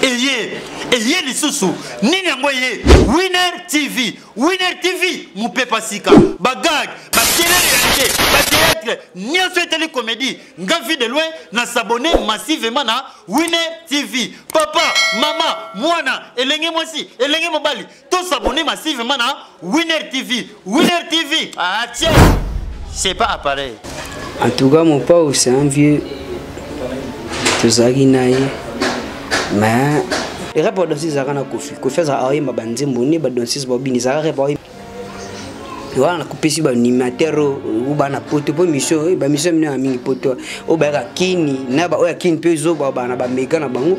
eye eye lisusu nini yango eye winner tv winner tv mopepa sika bagag bakelele ya te bateatre nyonso etali komedi nga vie de loin na sabone massivement na winner tv papa mama mwana elenge mwasi elenge mobali To s'abonner massivement na Winner TV. Winner TV. Ah tiens. C'est pas appareil. En tout cas, mon père, c'est un vieux. Tozaki na ye. Mais rap ba danseuse ezalaka na kofi kofi azalaka oyemba banzembo nde badanseuse babini ezalaka rap oyemba wana nakopesi baanimateur o bana poto mpo mission eh, bamisio ya minene ya mingi poto oyo bayaka kini na baoyo ya kini mpe ezoba bana bameka na bango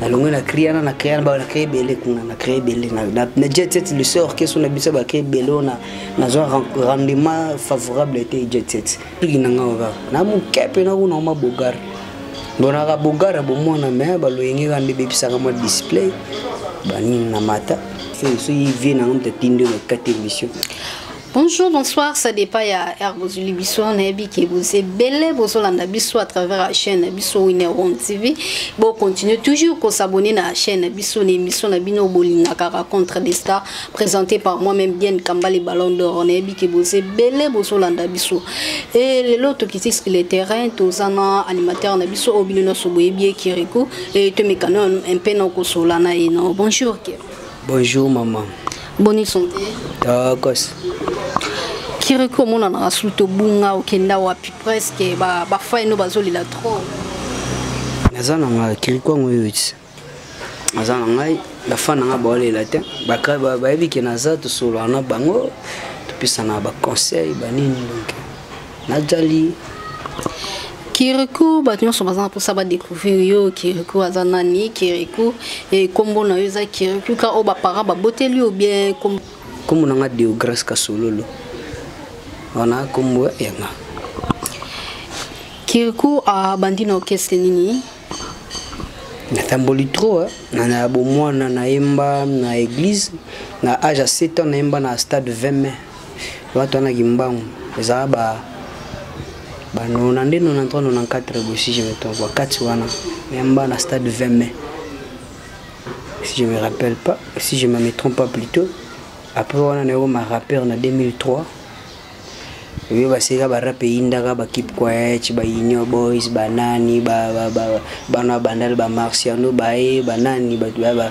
nalongwe na cria na na cria na na cria ebele kuna na cria ebele na jet set le seul orchestre na biso bacria ebele oyo nazwa rendement favorable ete jet set tuki na ngai kaka na moke mpe nakuna oma bogar bonaka bogar ya bomwana me baloyenge kaka nde bebisaka mwa display banini na mata soki vie na ngai mtatindi oyo nakati emission Bonjour, bonsoir, ça dépend ya Air Bozuli Bisso, nayebi ke boze belle bozolanda biso à travers la chaîne biso Winner One TV. Bon, continuez toujours ko s'abonner na la chaîne biso na émission na bino bolinga ka rencontre des stars présentée par moi-même bien Kambale Ballon d'Or. Nayebi ke boze belle bozolanda biso. Et lelo to kiti sur le terrain, tozana animateur na biso obino na soboyebi Kirikou et to mekano un peu na kosolana et non. Bonjour. Kirikou. Bonjour maman. Bonne santé. Tokos. Kiriko mona na sous to bunga okenda wapi presque ba ba fai no bazoli la trop. Naza na nga Kiriko ngo yuti. Naza na ngai ba fana nga ba olela te. Ba ka ba ba yebi ke naza to solo na bango. Topisa na ba conseil ba nini donc. najali kiriku bato nyonso baza na mposa badécouvrir yo kiriku aza nani kiriku nkombo eh, na yo eza kiriku ka oyo baparent baboteli yo bien nkombo na nga deograce kasololo wana nkombo yanga kiriku abandi na orchestre nini natamboli trop eh. na na bomwana nayemba na église na age ya 7 ans nayemba na stade 20 mai Watu wana kimbangu ezala ba ba 92 93 94 boye si je me trompe ba kati wana memba na stade 20 mai si je me rappelle pas si je me trompe pas plutôt après wana na yokoma rappeur na 2003 oyo basika barape eyindaka bakipe quaec baunion boys banani bana bandal bamarciano baye banani bato baya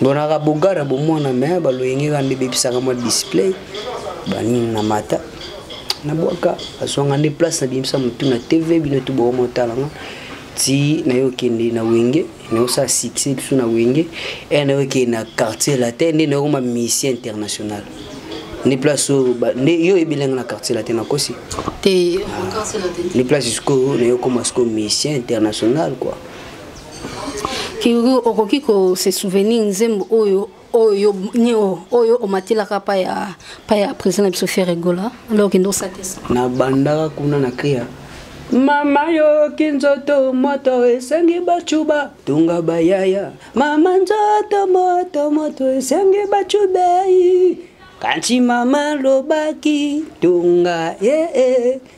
ndonaka bogara bomwana me baloyenge ka nde bebisaka mwa display banini na mata nabwaka azwanga nde place na bimisa motu na tv bino tu boko motalanga ti nayo okende na wenge naosala succès biso na wenge e nayo okende na quartier latin nde nayokoma mission international nde place oyo nde yo oyebelanga na quartier latin nakosi te nde place sikoyo nayokoma sikoyo mission international quoi kiri okoki ko se souvenir nzembo oyo oyo nio oyo omatelaka pa ya pa ya président na biso ferre gola alors kende osakisa na bandaka kuna na kriya mama yoki nzoto moto esengi bacuba tunga bayaya mama nzoto moto moto esengi bacubei kanti mama lobaki tunga ee eh, eh.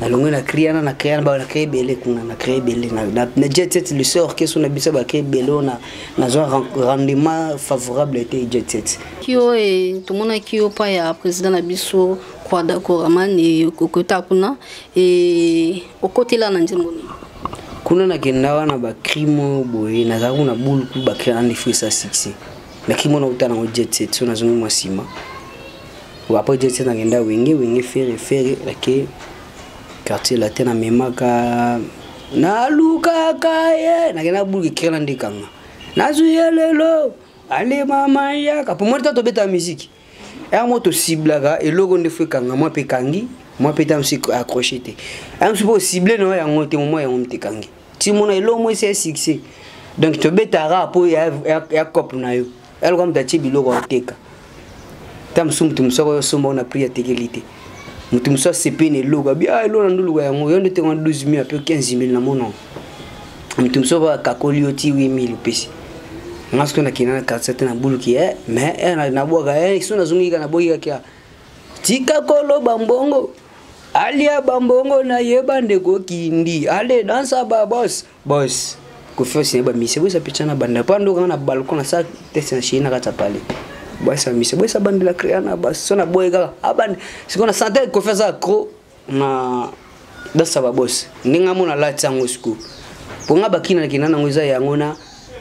nalongi na crie wana na crie na crie ebele kuna na crie ebele na jet set le sort keso na biso ba crie ebele ona nazwa rendement favorable te jet set kio e tomonaki yo pa ya président na biso kwada koraman e kokota kuna e okotela na nzembo nini kuna nakenda wana bacrime boye nazalaki kuna bulku bacrie andi frisa succès nacrime wana uta nango jet set so nazongi mwa nsima après je tiens ngenda wenge wenge ferre ferre lake quartier latin na memaka na luka kaye na kena bulu kikela ndikanga na zuye lelo ale mama ya kapo moi tato beta musique ya mo to ciblaka eloko nde fwe kanga moi pe kangi moi pe tam sik accroché te am supo cible no ya ngote mo ya ngomte kangi ti mona eloko moi c'est succès donc to beta ra po ya ya couple na yo yaloka moto atie biloko aoteka ta mosusu moto mosusu akoya osomba ona prix atekeli te moto mosusu asepe na eloko abi ah eloko na ndoluka yango yo nde otekwa 12 mil ape 15 mil na monoko moto mosusu oyo akakoli yo ti 8 mil opesi nga soki nakenda na quartier te nabuluki e eh, mais eh, nabwaka e eh, so nazongi kaka naboyi kaka kia tika koloba mbongo alia bambongo na ye bandeko kindi ale dansa babos boss confiance na ye bamisa boyesa mpe tya na banda mpo andoka nga na balcon nasala teste na chei na kati ya pale boyesa bamisa boyesa bandela créa na baso na boye kaka abandi sikoyo na sante confiance ya cro na dansa babos ndenge amona lati yango sikoyo mpo nga bakina nakenda nango eza yango na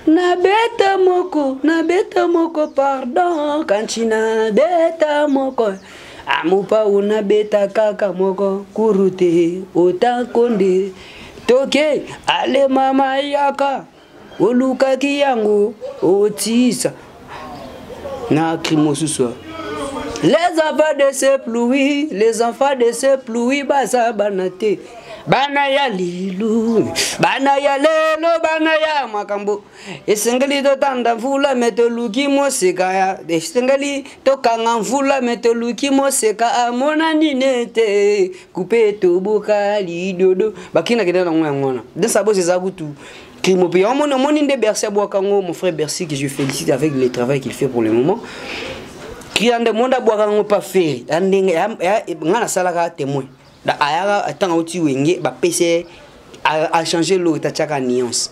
na beta moko na beta moko pardon kanti na beta moko amopa una beta kaka moko kurute otankonde toke ale mama yaka olukaki yango otisa na akri mosusu les enfants de ce pluie les enfants de ce pluie baza bana te bana ya lilu bana ya lelo bana ya makambo esengeli totanda mvula me toluki moseka ya esengeli tokanga mvula me toluki moseka amona nini ete kupe toboka lidodo bakinakende nango yango wana desabos eza kutu crime ope yango moni omoni nde bercy abwaka yango mon frère bercy que je félicite avec le travail qu'il fait pour le moment kila nde monde abwaka yango pa feri ya ndenge nga nasalaka témoin ayaka ntango auti wenge bapese achange lori tatiaka nuance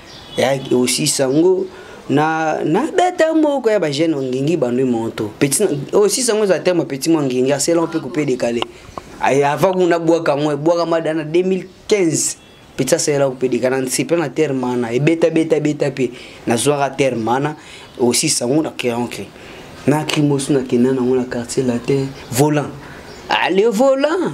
ya aussi sango na nabeta moko ya bajeune ongingi bandwi moto petit oyo sisa yango eza te ma petit mwa ngingi asela mpe coupe décalé avant kuna bwaka yango ebwakama da na 2015 petit asalela coupe décalé na nse mpe na terre mana ebeta beta beta mpe nazwaka terre mana aussi sango na keancre na krimosu na kenda nango na quartier latin volant ale ah, volant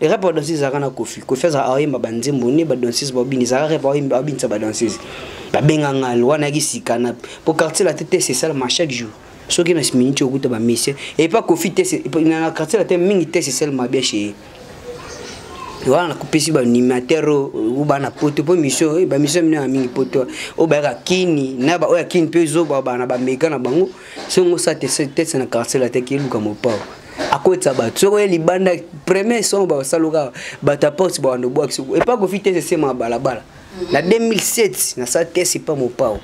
rap badanseuse ezalaka na kofi kofi azalaka aoyemba banzembo nde badanseuse baobini ezalaka rap aobinisa badanseuse babenga ngal wana yaki sika na po quartier la tete esalama chaque jour soki na miniti okuta bamise epa kofi te na quartier la te mingi te esalama bien chez ye wana nakopesi baanimateur oyo bana poto mpo mission bamisio mine ya mingi poto oyo bayaka kini na baoyo ya kini mpe ezoba bana bameka na bango soki ngosa te tese na carcel ate kiluka mopao akotisa bato soki oye libanda premier son basalokaka bato ya poste bawanda obwakisi epa kofi tese sema ya balabala na 2007 nasala tese epa mopao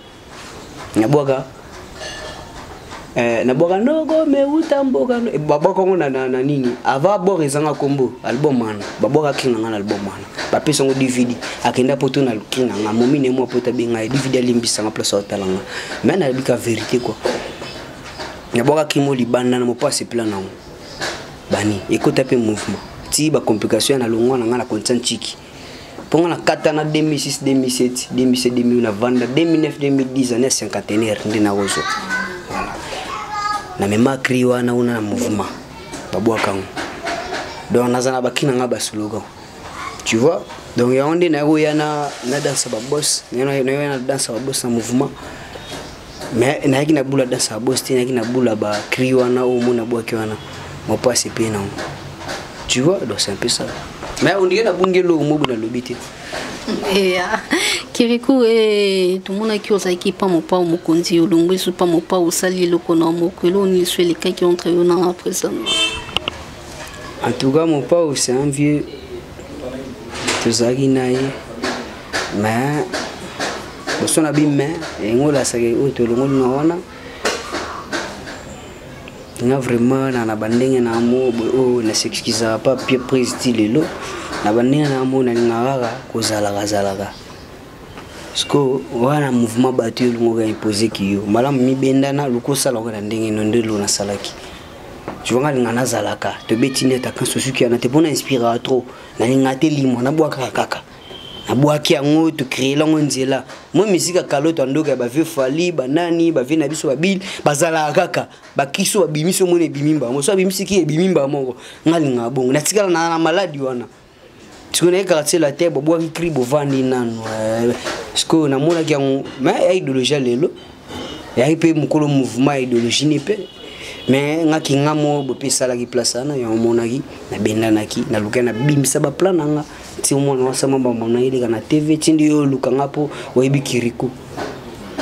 nabwaka Eh, na bwaka noko meuta mboka babwaka yango na, na, na nini ava bor ezanga kombo album wana babwaka kinga nga na album wana bapesa yango dvd akenda poto na luki na nga momi ne mwa poto abenga ye dvd alimbisanga place aotala nga me nayebika verité kua nabwakaki mo libanda na mopasi pla na yango bani ekota mpe mouvement ti bacomplication ya na longwa na ngai na kontia ntiki mpo ngai nakata na 2006 2007 2007 2008 na vanda 2009 2010 ane ya cinquantenaire nde nakozwa na mema cri wana una na mouvement babwaka yango donc naza na bakina ngai basologan tu vois donc yango nde naye koya na na danse ba boss naye na danse ba boss na mouvement mais nayaki na bula danse ba boss te nayaki na bula ba cri wana oyo mona bwaki wana mopasi epe nango tu vois donc c'est un peu ça mais ondike nabungi eloko mobu nalobi te eya kiriku e tomonaki ozalaki pa mopao mokonzi olongwisi pa mopao osali eloko na moko eloko nini so elekaki entre yo na president En tout cas, mon père, c'est un vieux. tozalaki na ye me boso na bime engolasaka oyo tolongoli na wana nga vraiment na na bandenge na yango oyo na s'excusaka pa pie prise ti lelo na bandenge na yango nalingaka kaka kozalaka zalaka siko wana mouvement bato yo olingaka impose kiyo malamu mibendana luka osala oyo na ndenge no nde lo nasalaki tu vois nga linga nazalaka tobeti nde ataka susuki yana te mpo na inspiraka trop nalinga te limwa nabwakaka kaka nabwaki yango tocree lango nzela moi misika kaloto ya ndoka ya bavie fali banani bavie na biso babili bazalaka kaka bakristo babimisi omoni ebimi mbaa moko so abimisiki ebimi mbaa moko nga lingaka bongo natikala na maladi wana sikoyo naye quartier latin bobwaki cri bovandi nanu eh, sikoyo namonaki yango me ya idéologie lelo yaki mpe mokolo mouvement ya idéologie ne mpe me nga kinga mo bope esalaki place wana yango omonaki nabendanaki nalukai nabimisa baplan na nga ti omwana wasama bamonaki leka na tv tindi yo oluka nga mpo oyebi kiriku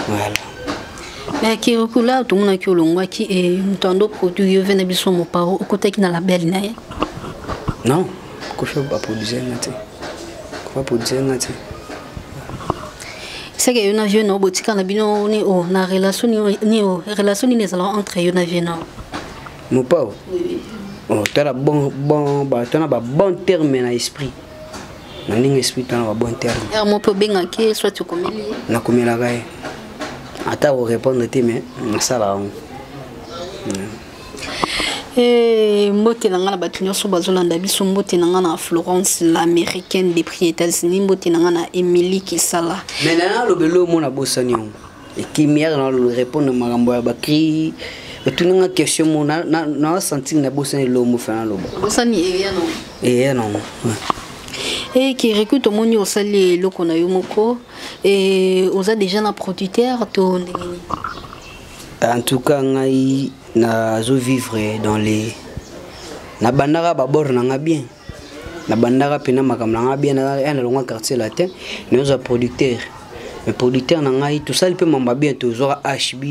voilà mais kirikula tomonaki olongwaki e moto ando produit yo ve na biso mopao okotaki na label na ye non kofi baproduise nga te kofi baproduise nga te seke yo na vieux nao botika na bino ni o na relation ni o relation nini ezalaka entre yo na vieux nao mopao tala bon bon batana ba bon terme na esprit na ndenge esprit tana ba bon terme heure moko mpe obengaki ye soit okomeli ye nakomelaka ye ata korépondre te mais nasala yango eh, mbote na ngai na bato nyonso bazolanda biso mbote na ngai na florence l'américaine de prix états-unis mbote na ngai na émilie kisala me nana alobeli omona bosani yango ekimia na repondre makambo ya bacri otuni nga question mo nawasanti na bosani elombo fana loba bosani eya nango eya nango e kiriku tomoni osali eloko na yo moko e oza déjà na producteur to ndenge nini en tout cas ngai nazo vivre dans les nabandaka babord na nga bien nabandaka mpena makambo na ngai bien ya nalongwa quartier latin naozwa producteur mais producteur na ngai tosali mpe mambo bien tozwaka hb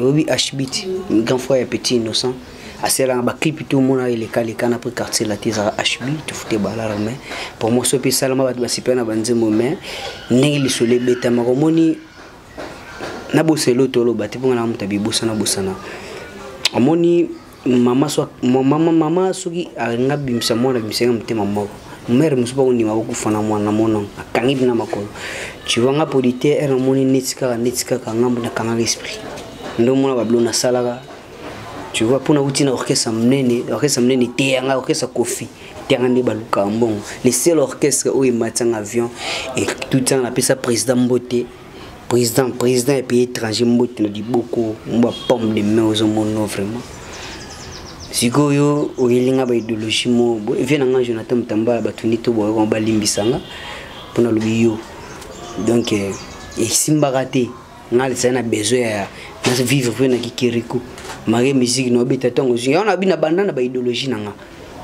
oyebi hb ti grand frère ya petit innocent asalaka baclipe to omona elekaleka na mpe quartier lati ezalaka hb tofute balara mai promotion mpe esalama bato basepela na banzembo mai ndenge lisolo ebetama komoni naboselo toloba te mpo nga na moto abibosana bosana omoni mama so mama mama soki alinga bimisa mwana bimisa nga motema moko mère mosusu bakondima kokufa na mwana na mona akangi bina makolo ciwa nga polite ere namoni neti kaka neti kaka ngambo nakangaka esprit nde omona babilo nasalaka tu vois mpona uti na orchestre monene orchestre monene eteya ngai orchestre kofi eteya ngai nde balukaka mbongo le seul orchestre oyo ematisa nga avion etuti nga napesa président mbote président président ya pays étranger mbote na liboko mwa pomme de main ozomono vraiment sikoyo oyeli nga baidéologie mo vie na nga jonathan motambala bato nde toboyaka balimbisa nga mpo nalobi yo donc eh, esimbaka te nga lisali na besoin ya vivre mpe na kikeriko marie musique naobeta ntango ozwi yango nabi na banda na baidéologie na nga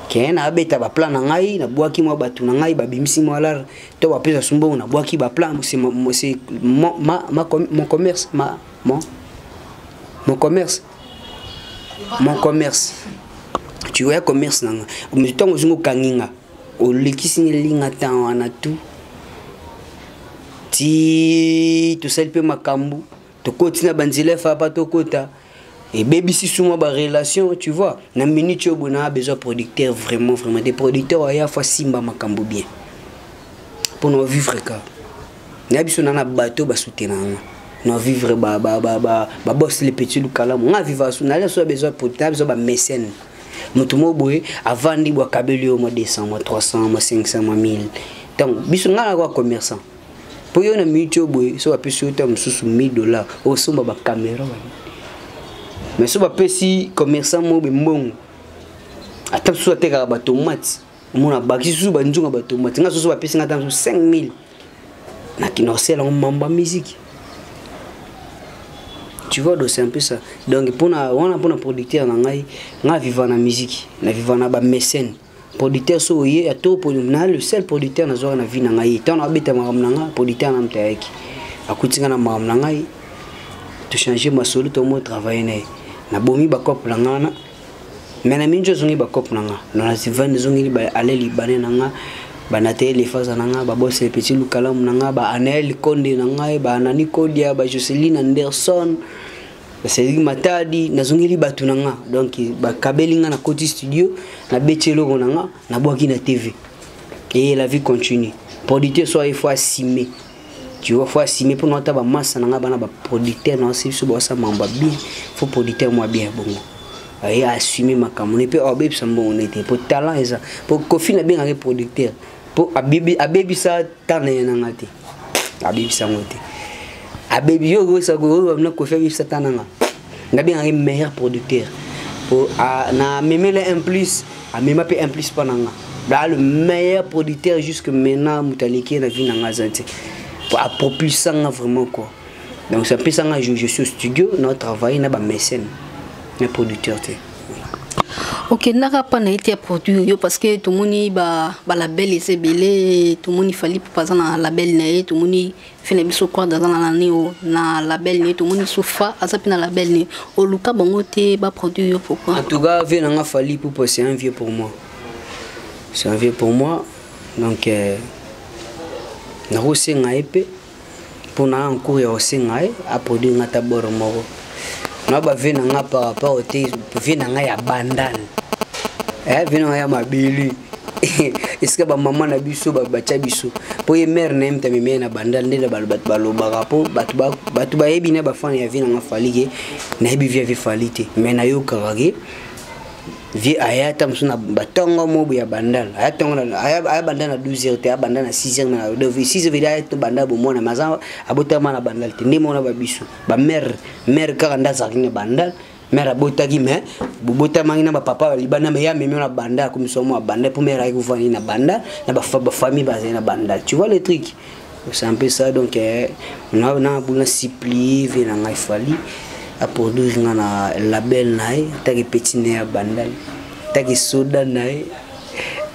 keye naabeta baplan na ngai nabwaki mwa bato na ngai babimisi mwa lare to bapesa su mbongo nabwaki baplan mon commerce ma mon mon commerce mon commerce tu vois commerce nanga ntango ozongi okangi nga olekisi nelinga ntan wana tu ti tosali mpe makambo tokoti na banzela efapa tokota ebebisi suma ba relation tu vois na minute oyo bona besoin producteur vraiment vraiment des producteurs aya fa simba makambo bien mpo na vivre ka na biso na na bato basutena yango na vivre ba ba ba ba ba boss les petits lukalamu nga viva su na leso besoin producteur besoin ba mécène moto moko boye avandi bwakabeli yo mwa 200 mwa 300 mwa 500 mwa 1000 ntango biso ngai nakoa commerçant mpo yo na minute oyo boye so bapesi yo ntango mosusu 1000 dollar osomba bakamera wana mais so bapesi commerçant moko be mbongo ata mosusu atekaka batomate omona abakisi susu banzunga batomate nga soso bapesi nga ata mosusu 5000 nakinosela yango mamba miziki tu vois donc c'est un peu ça donc mpona wana mpona producteur na ngai nga viva na miziki na viva na bamécène producteur so oye ya to na le seul producteur nazwaka na vie na ngai ntango abeta makambo na ngai producteur na moto ayaki akuti ngai na makambo na ngai tochange masolo tomo travaille na ye nabomi bakope na ngai wana me na mingi ozongi bakope na ngai nonasivani ezongeli baale libane na ngai banateye lefaza na ngai babose le petit lukalamu na ngai baanael konde na ngai baanani kodia bajocelin anderson nasaleli matadi nazongeli bato na nga donc bakabeli nga na koti studio nabeti eloko na nga nabwaki na tv eye la vie continue producteur so aye fo asime tu vois fo asime mpo naata bamasa na nga bana baproducteur na basi biso bawasa mambo bien fo producteur mwa bien bongo aye assume makambo ne mpe abebisa mbongo ne te mpo talent eza mpo kofi nabengaki producteur mpo abebisa tana ye na nga te abebisa yango te abebi yo oyoesakooyobamina kofi abebisa ta nanga nabengaka ye meilleur producteur po na memela un plus amema mpe un plus mpo na nga baa le meilleur producteur jusque maintenant moto aleki ye na vie na nga aza te po apropulsa nga vraiment quoi donc ça apesa nga je suis au studio na travaille na bamécène na producteur te okendaka mpa na ete ya produit oyo parce que tomoni balabel eza ebele tomoni fali pupa aza na label na ye tomoni fe na biso quad aza na nani oyo na label na ye tomoni sofa aza mpe na label na ye oluka bango te baproduit yo pourquoi en tout cas vie na nga fali pupa c'est un vieux pour moi c'est un vieux pour moi donc euh, nakosenga ye mpe mpona encours ya kosenga ye aproduire nga ata boro moko na bavie na nga par rapport te vie na nga ya bandane eh, vie na nga ya mabele esika bamama na biso batya biso mpo ye mare na ye moto amemi ye na bandal nde bato balobaka mpo bato bayebi na bafana ya vie nanga falike nayebi vie ya vie fali te mai nayokaka ke vie aya ata mosusu na batongo mobu ya bandal aya tongo aya banda na 12 heures te abanda na 6 heures na 6 heures aya to banda bomwana maza abotama na bandal te nde mona ba biso ba mère mère kaka nda azalaki na bandal mère abotaki mais bobotamaki na bapapa libanda me ye amemi na banda akomisa mwa banda mpo mère ayaki kofandi na banda na bafamille bazali na banda tu vois le truc osampe ça donc eh, na na buna supplie vie na ngai fali a produire nga na label na ye ataki petit ne ya bandal ataki soda na ye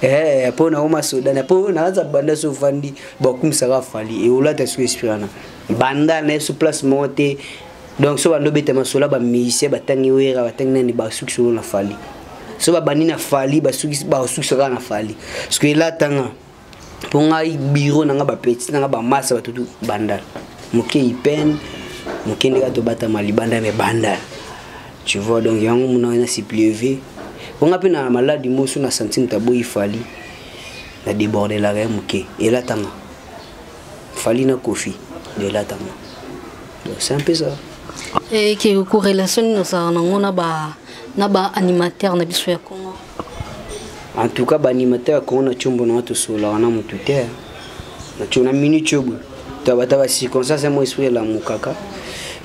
eh po na oma soda na po na za banda so fandi ba kumisa ka fali e olata so espirana banda na so place mo te donc so bando beta masola ba musicien batangi wera batangi nani ba suki solo na fali so babandi na fali basuki basuki saka na fali parce que elatanga mpo ngai biro na ngai bapeti na ngai bamasa bato tu bandal moke ipene moke nde kaka tobatama libanda me bandal tu vois donc yango mona ngai na siplieve mpo ngai mpe na maladi mosu na santi moto aboyi fali na debordelaka ye moke elatama fali na kofi de elatama donc c'est un peu ça eke korelation nini ozalaka nango na ba na ba animateur na biso ya congo en tout cas baanimateur ya kongo na combo na nga tosololaka na motu te na co na minute oyo tabata bacirconstance ya mo esprit elamukaka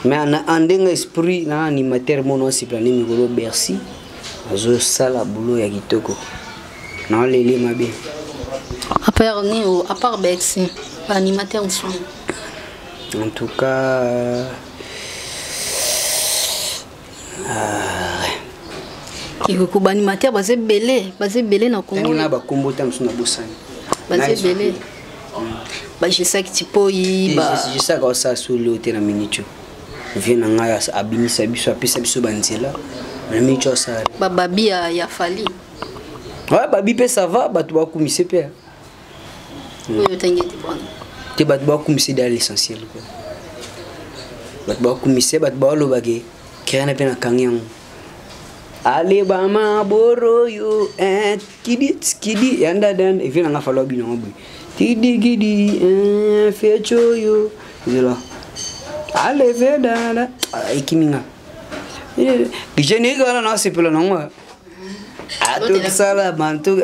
mais na andenge esprit na animateur mono asepela nde mikolo bercy azosala bulo ya kitoko naolele mabe apart nio apart bercy baanimateur mosusu en tout cas Ah. Kikuku banimateur baza ebele baza ebele na Congo. Na bakombo ta mosusu na bosani. Baza ebele. bajesaki tipoyi jesaka osala soli oyo te na minitio vie na ngai abimisa biso apesa biso banzela na minitio asala bababi ya fali ouais, babi mpe sava bato bakumise mpe oyo otangi ete bwana te bato bakumisa eda l'essentiel ko bato bakumisa bato baoloba ke kerena mpe nakangi yango aleba maboro yo eh, kidi kidi yanda dan evi nanga falwa bino ngo boye kidi kidi eh, fecho yo zela aleve dada ah, ekimi nga eh, générique wana nasepela nango atokisala bantu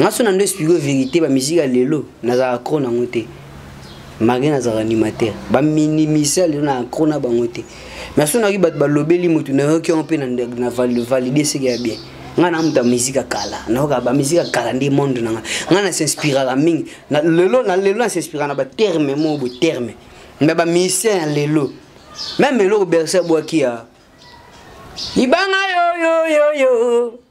nga so na ndo explique verité ba musique ya lelo nazalaka cro nango te malgré nazalaka animateur baminimisa lelo na cro na bango te mais so nayoki bato balobeli motu nayoki yango mpe na valide seke ya bien nga na muta musique ya kala nayoka ba musique ya kala nde monde na nga nga na s'inspiraka mingi na lelo na lelo na s'inspiraka na ba terme mo bo terme mais ba musicien ya lelo même eloko berse bwaki ya libanga yo yo yo yo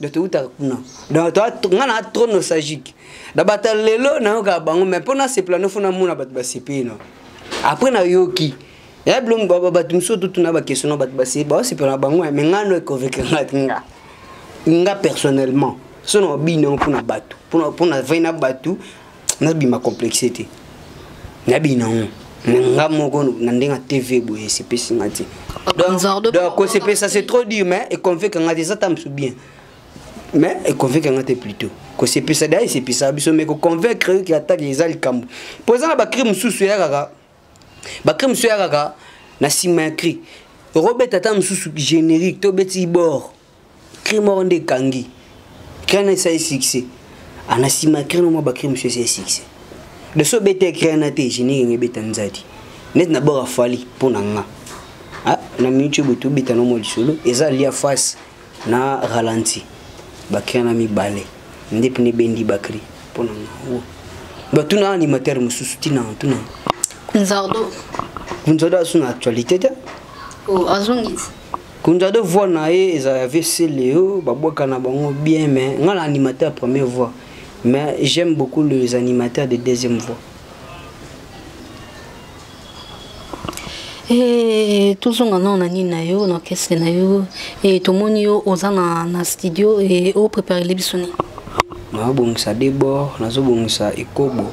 donc toutaka kuna donc nga na trop nostalgique na bata lelo nayokaka bango mais mpo nasepela nofo namona bato basepeli no après nayoki ya bilongi bato mosusu totuna bakestion na bato basepela na bango me nga no econvaincre nga nga nga personnellement so na obini yango mpo na bato mpo na vai na bato nabima complexe te nabina ngo na nga moko na ndenge ya tv boye esepesi nga te donc kosepesa c'est trop dur mais econveka nga te eza ta mosu bien mais econveka nga te plutôt kosepesa da esepesa biso mais koconvaincre yoki atake eza likambo mpo eza na bacri mosusu eya kaka bacri mosusu eya kaka na nsima ya cri okobeta ata mosusu générique tobeti bord cri moko nde ekangi cri na esali succès ana nsima cri na mwa bacri mosusu esali succès de so obeta cri na te génie kenge ebeta nzadi neti na bora fali mpo na nga ah, na minute oyo boto obeta na mwa lisolo eza lia face na ralenti bacri na mibale nde mpene ebendi bacri mpo na nga batuna animateur mosusu tina tuna nzardo nzardo asu na actualité te oh, azongisi Kunja de voix na ye eza ya VC Leo babwaka na bango bien mais nga na animateur ya première voix mais j'aime beaucoup les animateurs de deuxième voix. Hey, eh, tozonga nao na nini na yo na orchestre na yo hey, eh, tomoni yo oza na, na studio hey, eh, opreparele biso nini naobongisa debord nazobongisa ekobo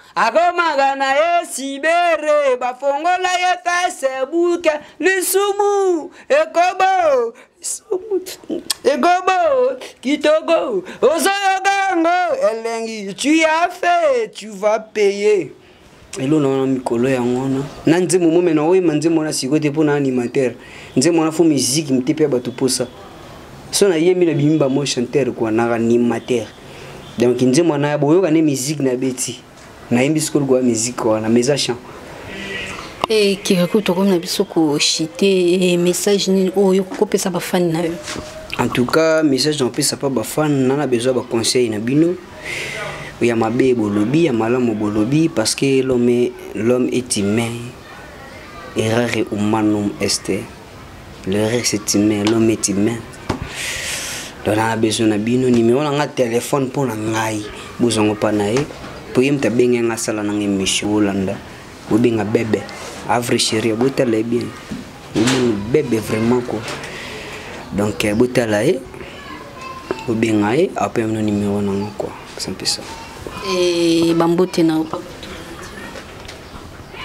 akomaka na ye sibere bafongola ye facebook lisumu ekobo ekobo kitoko ozoyoka yango elengi tu as fait tu vas payer elona wana mikolo yango wana na nzembo momena oyema nzembo wana sikoyo te mpo na animateur nzembo wana fo miziki mite mpe ya bato mposa so nayembi na bimba mo chanteur kua na animateur donc nzembo na boyoka ne musique na beti nayembi sikoyo lokola musique wana mais eza chant e kiriku tokomi na biso koshite e message nini oyo kopesa bafani na yo en tout cas message napesa mpa bafani na na besoin baconseil na bino ya mabe bolobi ya malamu bolobi parce que l'homme l'homme est humain errare humanum est Le reste est humain, l'homme est humain. Donc na besoin na bino numéro na nga téléphone mpo na ngai bozango pa na ye mpo ye moto abenge nga asala na nga émission olanda bobenga bebe avre chéri botala ye bien omoni bebe vraiment ko donc euh, botala ye bobenga ye ape mino numéro na nga kua mpesa mpesa eh, bambote na yo papa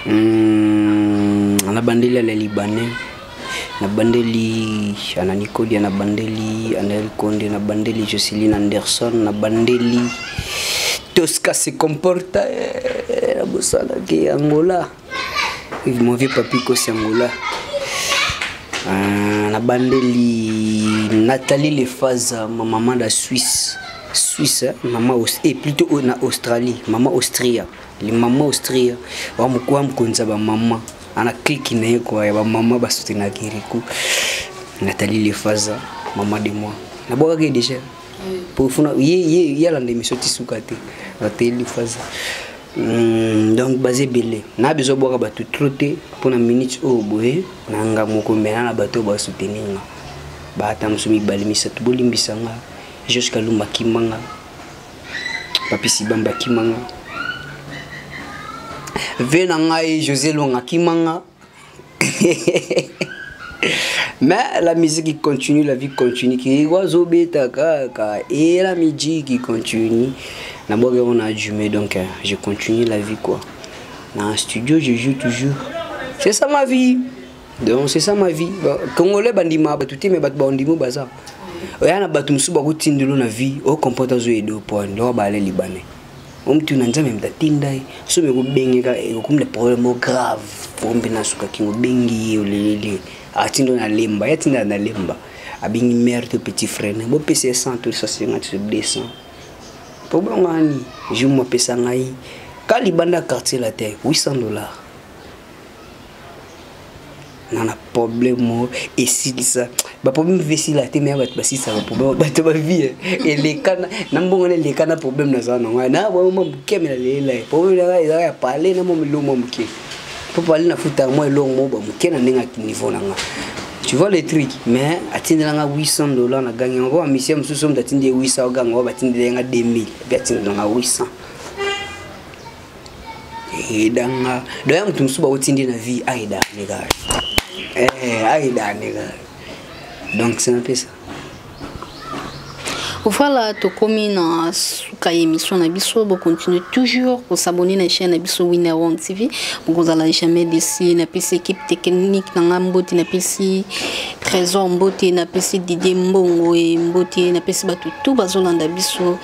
Hmm, nabandeli ala libanais nabandeli ana nikodia nabandeli anel konde nabandeli joceline anderson nabandeli tosca se comporta eh, nabosanaki angola mon vieux papi kosi angola ah, nabandeli nathalie lefaza ma maman da suisse suisse eh, mama e eh, plutôt na australie mama austria Les mamans Austria, wa mukwa mkonza ba maman. Ana clique na yeko ya ba maman ba soutenir Kirikou. Nathalie Lefaza, maman de moi. Na boka ke déjà. Pour funa ye ye yala ndemi soti suka te. Nathalie Lefaza. Hmm, donc baze belé. Na besoin boka ba tout trop te pour na minute au boye na nga moko mais na ba to ba soutenir nga. Ba ata musumi balimisa to bolimbisa nga. Jusqu'à lumba kimanga. papisi bamba kimanga ve na ngai josé longa kimanga mais la musique continue la vie continue kiyiko azobeta kaka e la musique continue na boke on a jume donc euh, je continue la vie quoi na studio je joue toujours c'est ça ma vie donc c'est ça ma vie bah, congolais bandima bato te me bato baondimo baza oya na bato mosusu bakotindelo na vie ocomporte azo edo point loko baale libanais omtu na nzambe mta tinda ye soki ekobengeka ekokomi na problème o grave ompe nasuka kingo obengi ye oleleli atinda na lemba ye atinda na lemba abengi mare to petit frère na bopesa ye 100 to 150 to 200 problème wani jour mopesa ngai ka libanda quartier latin 800 dollars na na problème moko esilisa baproblème mpe esila te meya bato basilisa baproblème bato bavie eleka na mbongo na eleka na problème naza na ngai na boyo mwa moke me nalelela ye problème na ngai ezaka ya pale na mwa milongo mwa moke mpo pale nafutaka mwa elongo moko ba moke na ndenge ya niveau na ngai tu vois le truc mais atindela nga 800 dollars na gangi yango bamisia mosusu moto atindi ye 800 oganga oyo batindela ye nga 2000 mpe atindela nga 800 ayeda nga doya moto mosusu bauti nde na vie ayeda nega eh, ayeda nega donc c'est un peu ça voilà tokomi na suka ya émission na biso bocontinue toujours kosabone na chaîne na biso winner one tv bokozala jamais desi napesi équipe technique na ngai mbote napesi trésor mbote napesi didie mbongo e mbote napesi bato tout bazolanda biso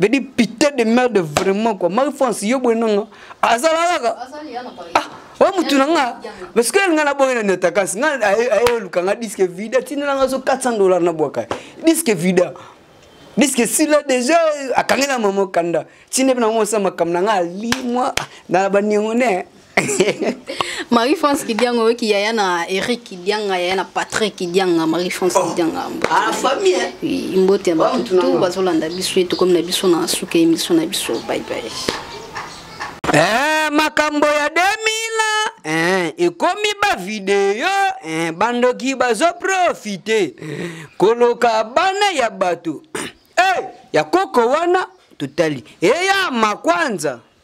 veut dire pité de merde vraiment quoi marie france yo boye nanga azalalaka ah, oyo oh, motu na nga parce que nga na boye na netakasi nga ayoluka nga diske vida tinela nga so 400 dollar na bwaka diske vida diske sila déjà akangela mama kanda tine mpe na mosala makambo na nga alimwa na baniongo ne Marie France Kidianga oyo kiyaya na Eric Kidianga yaya na Patrick Kidianga Marie France oh. Kidianga ah famille hein? oui mbote ba tout bazolanda biso eto comme na biso na suka émission na biso bye bye eh makambo ya 2000 eh ekomi ba video eh bandoki bazo profiter koloka bana ya bato eh ya koko wana totali eya eh, makwanza